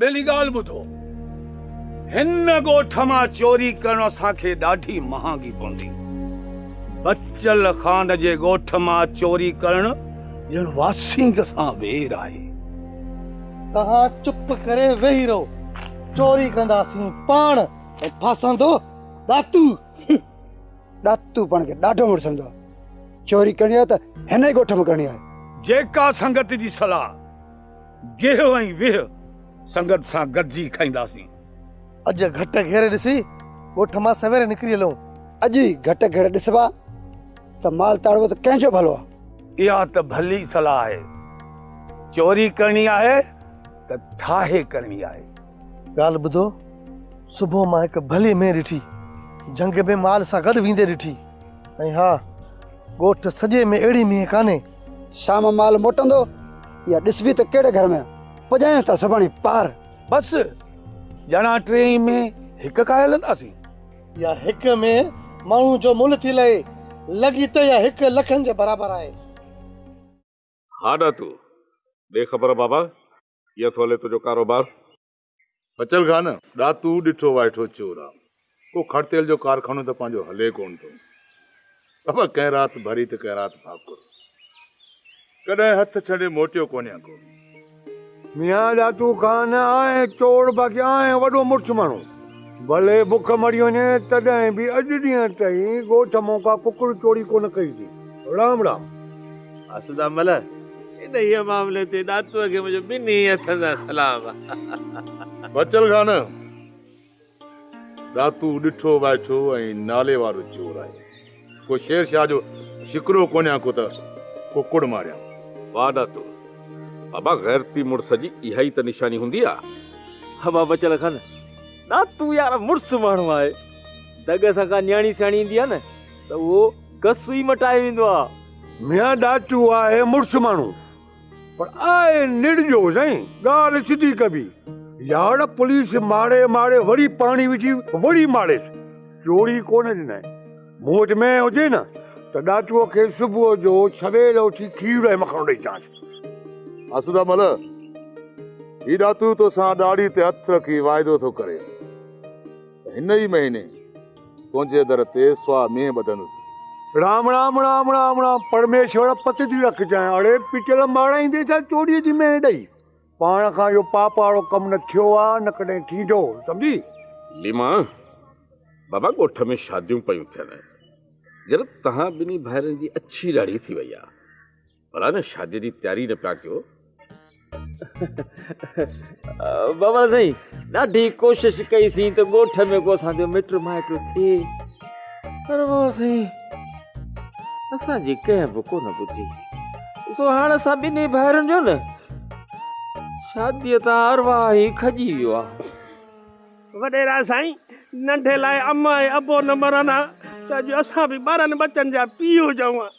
ٻيلي ڳالهه ٻڌو، هن ڳوٺ مان چوري ڪرڻ اسان کي ڏاڍي مهانگي پوندي. بچل خان جي ڳوٺ مان چوري ڪرڻ ڄڻ واسينگ سان وير آهي. توهان چپ ڪري ويهي رهو، چوري ڪنداسين پاڻ ۽ ڦاسندو ڏاتو. ڏاتو پاڻ کي ڏاڍو مڙس سمجهندو آهي. چوري ڪرڻي آهي ته هن ئي ڳوٺ مان ڪرڻي آهي. جيڪا سنگت جي صلاح. گيهه ۽ ويهه سنگت سان گڏجي کائينداسين. اڄ گهٽ گهير ڏسي ڳوٺ مان سوير نڪري هلون. اڄ ئي گهٽ گهير ڏسبا ته مال تاڙبو ته ڪنهن جو ڀلو آ. اها ته ڀلي صلاح آهي. چوري ڪرڻي آهي ته ٺاهي ڪرڻي آهي. ڳالهه ٻڌو، صبح مان هڪ ڀلي مينهن ڏٺي، جهنگ ۾ مال سان گڏ ويندي ڏٺي ۽ ها! ڳوٺ سڄي ۾ اهڙي مينهن ڪانهي شام مال موٽندو يا ڏسبي ته ڪهڙي گهر ۾ پڄايونس ٿا سڀاڻي پار بس ڄڻا ٽي ۾ هڪ کائي هلنداسين يا هڪ ۾ ماڻهو جو مل ٿي لهي لڳي ته يا هڪ لکن جي برابر آهي. ها ڏاتو، ڏي خبر بابا، ڪيئن ٿو هلي تنهنجو ڪاروبار؟ بچل گاهه نه ڏاتو ڏٺو وائٺو چور آ ڪو کڙ تيل جو ڪارخانو ته پنهنجو هلي ڪونه ٿو بابا ڪنهن رات ڀري ته ڪنهن رات ڀاڪر ڪڏهن هٿ ڇنڊي موٽيو ڪونه آ ڪو ميان ڏاتو خان آهي چور باقي آهي وڏو مرڇ ماڻهو ڀلي بک مري وڃي تڏهن به اڄ ڏينهن تائين ڳوٺ مون ڪا ڪڪڙ چوري ڪونه ڪئي ٿي رام رام. آسوده مل، انهيء معاملي تي ڏاتوء کي منهنجو ٻنهي هٿن سان سلام. بچل خان، ڏاتو ڏٺو وائٺو ۽ نالي وارو چور آهي. ڪو شير شاهه جو شڪرو ڪونهيان ڪو ته ڪڪڙ ماريان. واهه ڏاتو، بابا غيرتي مڙس جي اها ئي ته نشاني هوندي آهي. بابا بچل خان، ڏاتو يار مڙس ماڻهو آهي. دڳ سان ڪا نياڻي سياڻي ايندي آهي نه ته اهو. ڪس ئي مٽائي ويندو آ. ميان ڏاچو آهي مڙس ماڻهو پر آهي نڙجو سائين ڳالهه سڌي ڪبي يار پوليس ماري ماري وري پاڻي وجهي وري ماريس چوري ڪونه ڏنائين مون وٽ مينهن هجي نه ته ڏاچوء کي صبح جو سويل اٿي کير ۽ مکڻو ڏئي چانس. آسودا مل هي ڏاتو توسان ڏاڙهي تي هٿ رکي واعدو ٿو ڪري ته هن ئي مهيني تنهنجي در تي سوا مينهن ٻڌندس. رام رام رام رام رام پرميشور پت ٿي رکجانء اڙي پٽيل مارائيندي ڇا چوريء جي مينهن ڏئي پاڻ کان اهو پاپ وارو ڪم نه ٿيو آ نه ڪڏهن ٿيندو سمجهي. ليما بابا ڳوٺ ۾ شاديون پيون ٿين جنت تهان ٻنهي ڀائرن جي اڇي ڏاڙهي ٿي وئي آ. ڀلا نه شادي جي تياري نه پيا ڪيو بابا سائين ڏاڍي ڪوشش ڪئي سين ته ڳوٺ ۾ ڪو اسان جو مٽ مائٽ ٿي پر بابا سائين اسان جي ڪنهن به ڪو نه ٻڌي سو هاڻ اسان ٻنهي ڀائرن جو نه شادي تان اروا هي کجي ويو آ وڏيرا سائين ننڍي لاء اما ۽ ابو نه مرن ها ته جو اسان به ٻارن بچن جا پيو جون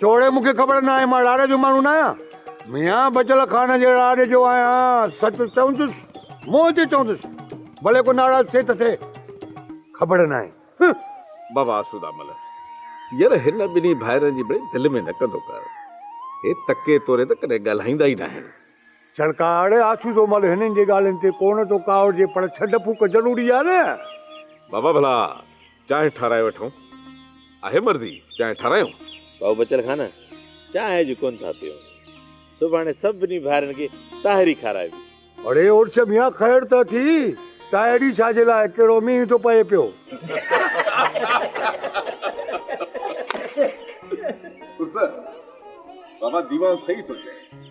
چوڙي مون کي خبر ناهي، مان راڙي جو ماڻهو ناهيان. ميان بچل خان جي راڙي جو آهيان، سچ چوندس، منهن تي چوندس، ڀلي ڪو ناراض ٿئي ته ٿئي، خبر ناهي. هه! بابا آسودامل، ير هن ٻنهي ڀائرن جي بڙي دل ۾ نه ڪندو ڪر. هي تڪي توري ته ڪڏهن ڳالهائيندا ئي ناهن. جهڙڪا، اڙي آسودو مل هنن جي ڳالهين تي ڪونه ٿو ڪاوڙجي پر ڇنڊ ڦوڪ ضروري آهي نه. بابا ڀلا چانهه ٺاهرائي وٺون؟ آهي مرضي چانهه ٺاهرايون؟ بابو بچل خان، چانهه اڄ ڪونه ٿا پيئون، سڀاڻي سڀني ڀائرن کي طاهري کارائبي. اڙي اڙڇ ميان خير ته اٿي، طاهري ڇا جي لاء، ڪهڙو مينهن ٿو پئي پيو. عرس، بابا ديوان صحيح ٿو چئي.